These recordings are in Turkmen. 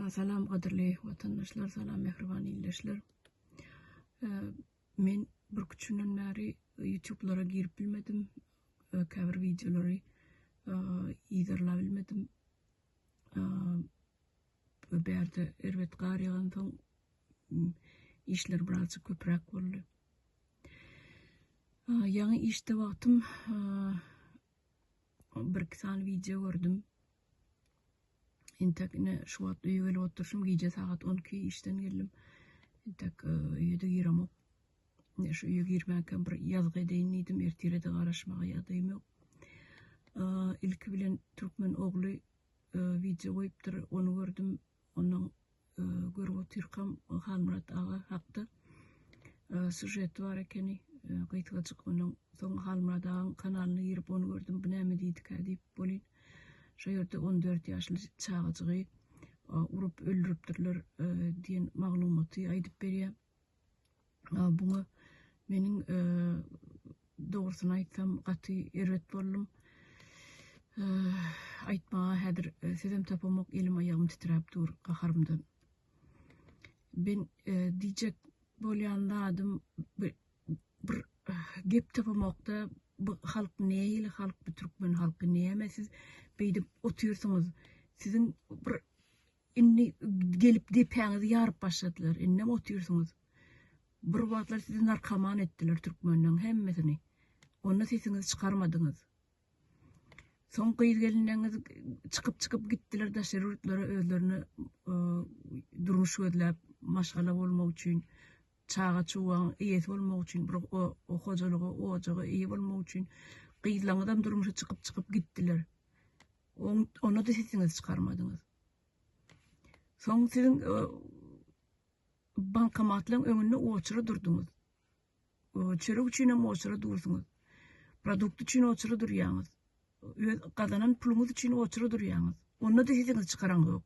Salam gadyrly watandaşlar, salam mähriban ildeşler. Men bir küçünden bäri YouTube-lara girip bilmedim. Käbir wideolary yzarlap bilmedim. Bu bärde erbet gar ýagan soň işler birazjyk köpräk boldy. Ýaňy işde wagtym Bir iki sany wideo gördüm. Entek ine şu wagt öýe gelip oturşym, gije sagat 12 işden geldim. Entek e, öýe-de giremok. Ine şu öýe girmäkem bir ýazgy edeýin diýdim, ertire-de garaşmaga ýadaýym ýok. E, ilki bilen türkmen ogly e, wideo goýupdyr, ony gördüm. Onuň görüp otyrkam Halmyrat aga hakda sužeti bar ekeni gysgajyk. Onuň soň Halmyrat agaň kanalyna girip ony gördüm. Bu näme diýdikä diýip bolýn. Şo ýerde on dört ýaşly çagajygy urup öldüripdirler diýen maglumaty aýdyp berýär. Buňa meniň dogrusyny aýtsam gaty erbet boldum. Aýtmaga häzir sözem tapamok, elim aýagym titräp dur gaharymdan. Ben diýjek bolýan zadym bir gep tapamokda bu halk neýli halk bu türkmen halky näme siz beýdip otyrsyňyz siziň bir Indi gelip depäňizi ýaryp başladylar. Indem otyrsyňyz. Bir wagtlar sizi narkoman etdiler türkmenleň hemmesini. Onda sesiňizi çykarmadyňyz. Soň gyz-gelinleňiz çykyp-çykyp gitdiler daşary ýurtlara özlerine e, durmuş gözläp, maşgala bolmak üçin, çaga çuwagyň eýesi bolmak üçin, bir o, o hojalyga, ojaga eýe bolmak üçin gyzlaňyzam durmuşa çykyp-çykyp gitdiler. Onda-da sesiňizi çykarmadyňyz. Soň siziň e, bankomatlaryň öňünde oçury durduňyz. Çörek üçin hem oçury dursuňyz. Produkt üçin oçury durýaňyz. Öz gazanan puluňyz üçin oçury durýaňyz. Onda-da sesiňizi çykaran ýok.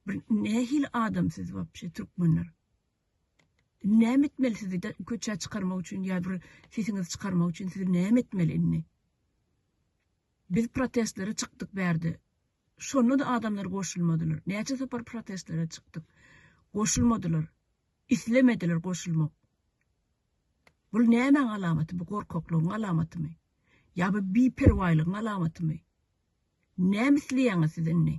Bir nähili adam siz wapşe türkmenler? Näme etmeli sizi köçä çykarmak üçin ýa bir sesiňizi çykarmak üçin sizi näme etmeli indi? Biz protestlere çykdyk bärde. Şonda-da adamlar goşulmadylar. Näçe sapar protestlere çykdyk. Goşulmadylar. Islemediler goşulmak. Bul nämäň alamaty? Bu gorkaklygyň alamatymy? Ýa bu biperwaýlygyň alamatymy? Näme isleýäňiz siz indi?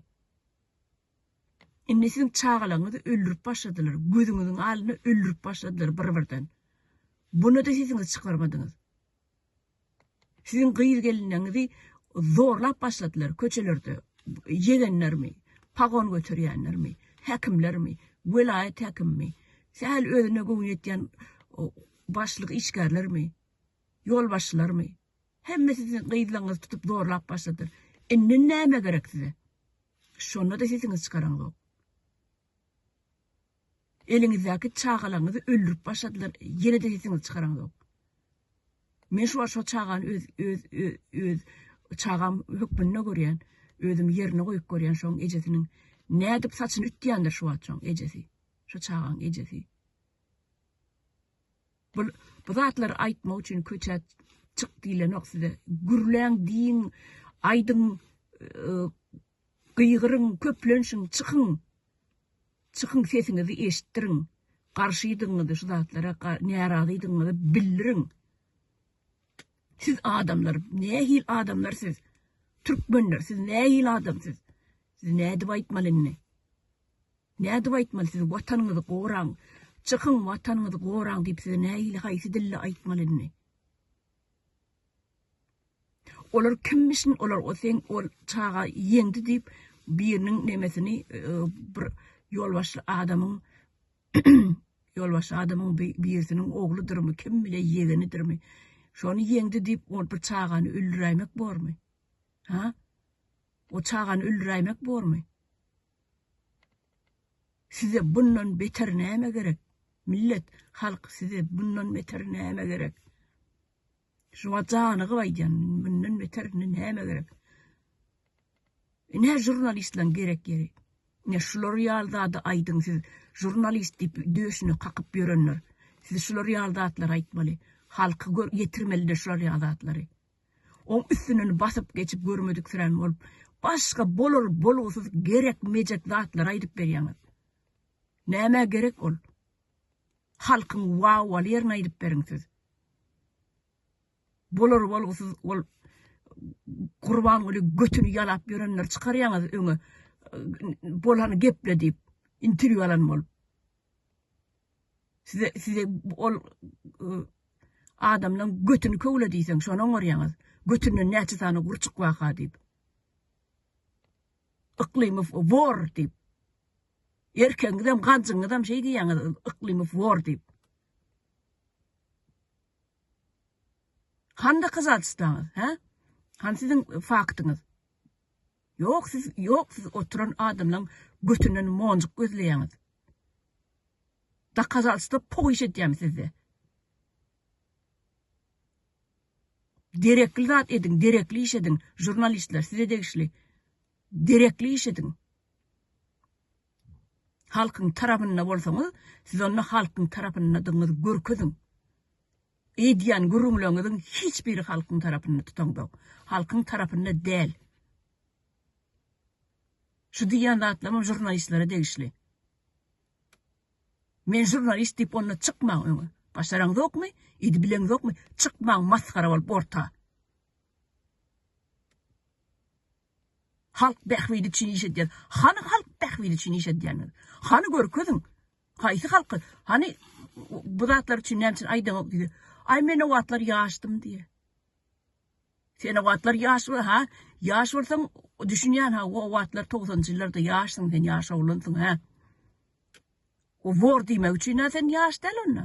Indi siziň çagalaryňyzy öldürip başladylar. Gözüňiziň alynda öldürip başladylar bir-birden. Bunu-da sesiňizi çykarmadyňyz. Siziň gyz gelinleňizi zorlap başladylar köçelerde ýegenlermi, pagon göterýänlermi, häkimlermi, welaýat häkimimi, sähel özüne göwün ýetýän başlyk işgärlermi, ýolbaşçylarmy? Hemmesi siziň gyzlaňyzy tutup zorlap başladylar. Indi näme gerek size? Şonda-da sesiňizi çykaraňzok. Eliňizdäki çagalaryňyzy öldürip başladylar, ýene-de sesiňizi çykaraňzok. Men şu wagt şo çagany öz, öz, öz, öz çagam hökmünde görýän, özüm ýerine goýup görýän şoň ejesiniň nädip saçyny ütýändir şu wagt şoň ejesi, şo çagaň ejesi. Bul, bu zatlary aýtmak üçin köçä çyk diýlenok size. Gürläň, diýiň, aýdyň, Gygyryň, köplenşiň, çykyň! Çykyň, sesiňizi eşitdiriň! Garşydygyňyzy şu zatlara, närazydygyňyzy bildiriň! Siz adamlar, nähili adamlar siz? Türkmenler, siz nähili adam siz? Siz nädip aýtmaly indi? Nädip aýtmaly siz Watanyňyzy goraň, çykyň Watanyňyzy goraň diýip size nähili haýsy dilde aýtmaly indi? Olar kimmişin olar o seň ol çaga ýeňdi diýip biriniň nemesini bir ýolbaşçy adamyň ýolbaşçy adamyň birisiniň ogludyrmy kim bile ýegenidirmi şony ýeňdi diýip ol bir çagany öldüräýmek bormy ha o çagany öldüräýmek bormy size bundan beter näme gerek millet halk size bundan beter näme gerek Şuňa janygyp aýdýan mundan beter indi näme gerek. Ine jurnalistleň gerek ýeri. Ine şular ýaly zady aýdyň siz jurnalist diýip döşüne kakyp ýörenler. Siz şular ýaly zatlary aýtmaly. Halky gör ýetirmelide şular ýaly zatlary. Oň üstünden basyp geçip görmediksirän bolup başga bolar bolgusyz gerek mejek zatlary aýdyp berýäňiz. Nämä gerek ol. Halkyň wau al ýerine aýdyp beriň siz. Bolar bolgusyz ol Gurbanguly götüni ýalap ýörenleri çykarýaňyz öňe bolany geple diýip interwýu alan bolup. Size size ol adamlaň götüni köwle diýseň şony oňarýaňyz. Götünden näçe sany gurçuk waka diýip. Yklymow wor diýip. Erkegiňizem, ganjyňyzam şeý diýýäňiz, Yklymow wor diýip. Han dokazatswstaňyz, hä? Han siziň faktyňyz? Ýok, siz, ýok, siz oturan adamlaň götünden monjuk gözleýäňiz. Dokazatswsta poýyş edýämi sizde? Derekli zat ediň derekli iş ediň žurnalistler size degişli derekli iş ediň halkyň tarapynda bolsaňyz siz onda halkyň tarapyndadygyňyzy görkeziň edýän gürrüňleriňiziň hiç biri halkyň tarapynda tutaňdok halkyň tarapynda däl şu diýýän zatlaryňyz žurnalistlere degişli. Men žurnalist diýip onda çykmaň öňe. Başaraňzokmy? Idi bileňzokmy? Çykmaň masgara bolup orta. Halk bähbidi üçin iş edýär. Hany halk bähbidi üçin iş edýäniz? Hany görkeziň. Haýsy halky? Hany bu zatlar üçin näme üçin aýdyňok diýdi. Aý men o wagtlar ýaşdym diýe. Sen o wagtlar ýaş we ha ýaş bolsaň düşünýän ha o wagtlar togsanjy ýyllarda ýaşsyň sen ýaş oglansyň ha. O wor diýmek üçin ha sen ýaş däl onda.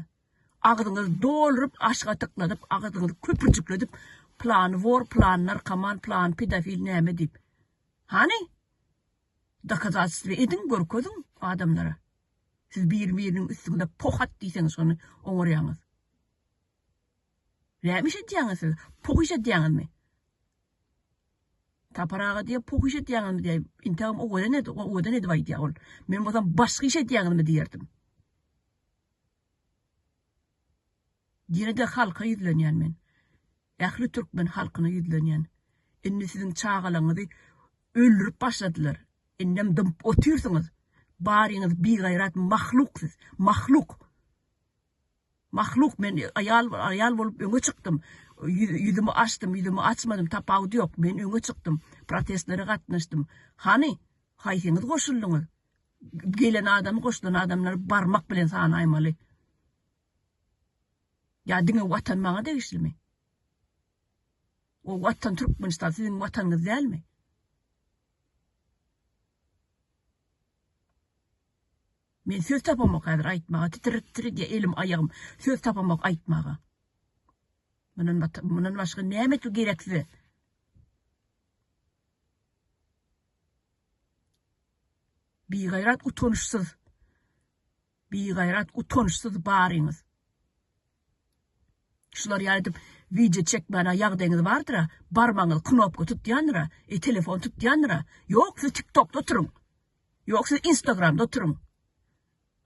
Agzyňyzy dolryp aşga tyklanyp agzyňyzy köpürjikledip plany wor plany narkoman plany pedofil näme diýip. Hany? Dokazatstwa ediň görkeziň adamlara. Siz bir biriniň üstüňde pohat diýseňiz şony oňarýaňyz. Näme iş edýäňiz siz? Pohyş edýäňizmi? Tapar aga diýýär, pohyş edýäňizmi diýýär. Intägem owadan edi, owadan edip aýdýar ol. Men bolsam başga iş edýäňizmi diýerdim. Ýene-de halka ýüzlenýän men. Ähli türkmen halkyna ýüzlenýän. Indi siziň çagalaňyzy öldürip başladylar. Indem dymyp otyrsyňyz. Baryňyz bigaýrat mahluk siz. Mahluk. Mahluk men aýal aýal bolup öňe çykdym ýüzümi açdym ýüzümi açmadym tapawudy ýok men öňe çykdym protestlere gatnaşdym hany haýsyňyz goşuldyňyz gelen adamy goşulan adamlary barmak bilen sanaýmaly ýa diňe watan maňa degişlimi o watan türkmenistan siziň watanyňyz dälmi Men söz tapamok häzir aýtmaga titrip titredi elim aýagym söz tapamok aýtmaga. Mundan mundan başga näme etmek gerek size? Bigaýrat utanyşsyz. Bigaýrat utanyşsyz baryňyz. Şular ýaýdyp video çekmäne ýagdaýyňyz bardyra, barmaňyz knopka tutýandyra, e telefon tutýandyra. Ýok, siz TikTokda oturyň. Ýok siz instagramda oturyň.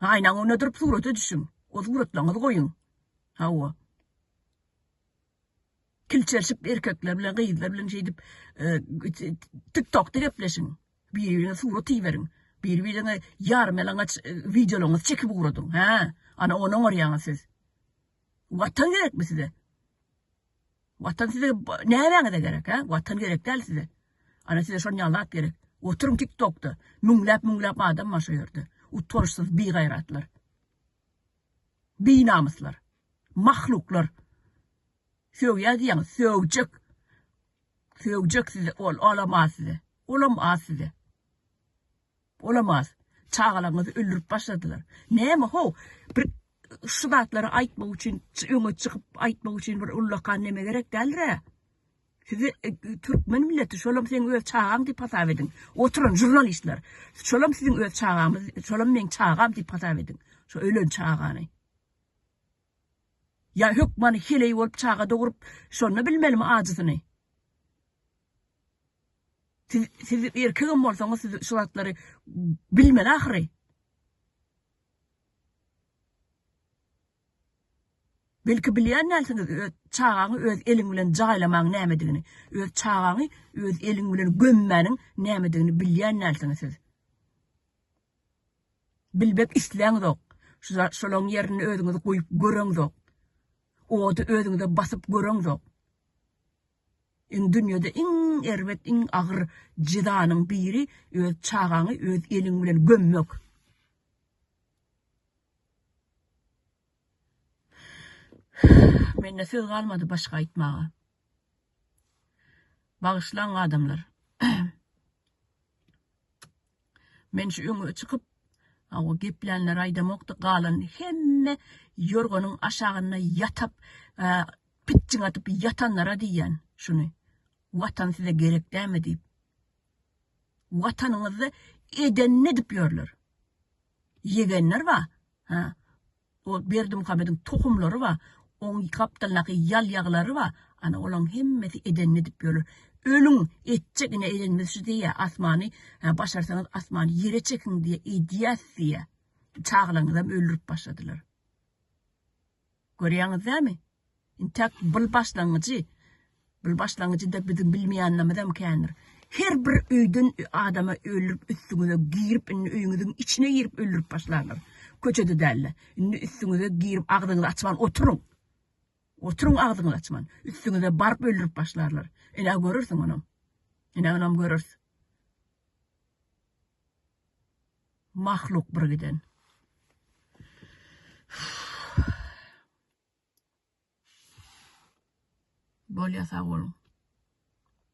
Aýnaň öňüne durup surata düşüň. O suratlaňyzy goýuň. Hawa. Kilçerşip erkekler bilen gyzlar bilen şeýdip tiktokda gepleşiň. Biri-birine surat iberiň. Biri-birine ýarymýalaňaç wideolaňyzy çekip ugradyň. Hä? Ana ony oňarýaňyz siz. Watan gerekmi size? Watan size nämäňize gerek he? Watan gerek däl size. Ana size şon ýalap gerek. Oturyň tiktokda. Müňläp müňläp adam bar şo ýerde. Utançsyz bigaýratlar. Binamyslar. Mahluklar. Sögýä diýäňiz, sögjek. Sögjek size ol, olam az size. Olam az size. Olamaz. Çagalaryňyzy öldürip başladylar. Näme how? Bir şu zatlary aýtmak üçin, öňe çykyp aýtmak üçin bir ullakan neme gerek däldir-ä. Sizi e, türkmen milleti şolam seň öz çagaň diýip hasap ediň. Oturan žurnalistler. Şolam siziň öz çagaňyz, şolam meň çagam diýip hasap ediň. Şu ölen çagany. Ya hökmany heleý bolup çaga dogrup, şonda bilmelimi ajysyny? Siz, siz erkegem bolsaňyz, siz şu zatlary bilmeli ahyry. Belki bilýän dälsiňiz, öz çagaňy öz eliň bilen jaýlamaň nämedigini, öz çagaňy öz eliň bilen gömmäniň nämedigini bilýän dälsiňiz siz. Bilbek isläňizok. Şu şolaň ýerinde özüňizi goýup göreňizok. Ody özüňize basyp göreňizok. Iň dünýede iň erbet iň agyr jezanyň biri öz çagaňy öz eliň bilen gömmek. Mende söz galmady başga aýtmaga. Bagyşlaň adamlar. Men şu öňe çykyp Awa geplänler aýdamokdy galan hemme ýorganyň aşagynda ýatyp pitjiň atyp ýatanlara diýýän şuny. Watan size gerek dämi diýip. Watanyňyzda eden ne edip ýörler. Ýegenler ba. Ha. Ol Berdimuhamediň tohumlary bar, oň gapdalyndaky ýal ýaglary bar, ana olaň hemmesi edenini edip ýörler. Ölüň, etjek ine edenimiz şu diýýär, asmany, hä başarsaňyz asmany ýere çekiň diýýär, edýäs diýýär. Çagalaňyzam öldürip başladylar. Görýäňiz dämi? Intäk bil başlangyjy, bil başlangyjy-da biziň bilmeýänlimizem kändir. Her bir öýden adama öldürip üstüňize girip indi öýüňiziň içine girip öldürip başlarlar. Köçede dälde. Indi üstüňize girip agzyňyzy açman oturyň. Oturyň agzyňyzy açman. Üstüňize baryp öldürip başlarlar. Ine görersiň onam. Ine onam görers. Mahluk bir giden. Bolýa sag boluň.